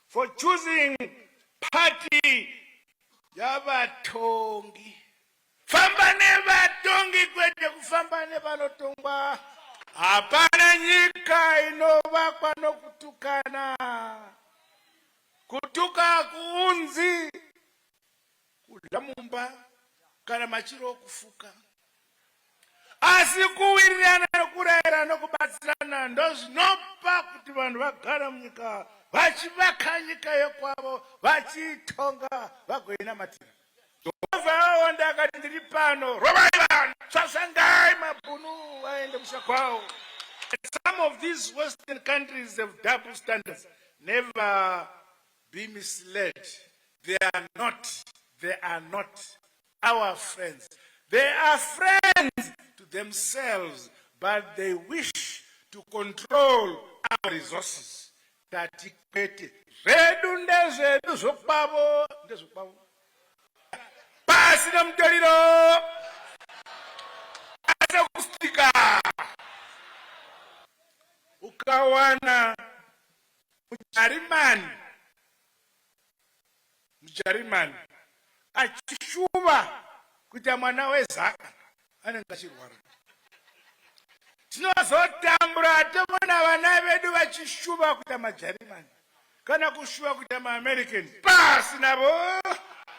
for choosing party yavatongi. Famba nevatongi kwete kufamba nevanotongwa. Hapana nyika inovakwa nokutukana. Kutuka kuunzi kudya mumba kana machiro okufuka asi kuwirirana nokurayira nokubatsirana ndozvinopa kuti vanhu vagara munyika vachivaka nyika yokwavo vachiitonga vagoinamatira jehovha aonda akati ndiri pano rovai vanhu tsvasangai mabhunu vaende musha kwavo some of these western countries have double standards never be misled they are not they are not our friends they are friends to themselves but they wish to control our resources tati kwete zvedu ndezvedu zvokwavo ndezvokwavo pasi nemutoriro asekustika ukawana mujarimani mujarimani achishuva kuita mwana wezaka anenge achirwara tinozotambura tomona vana vedu vachishuva kuita majarimani kana kushuva kuita maamerican pasi navo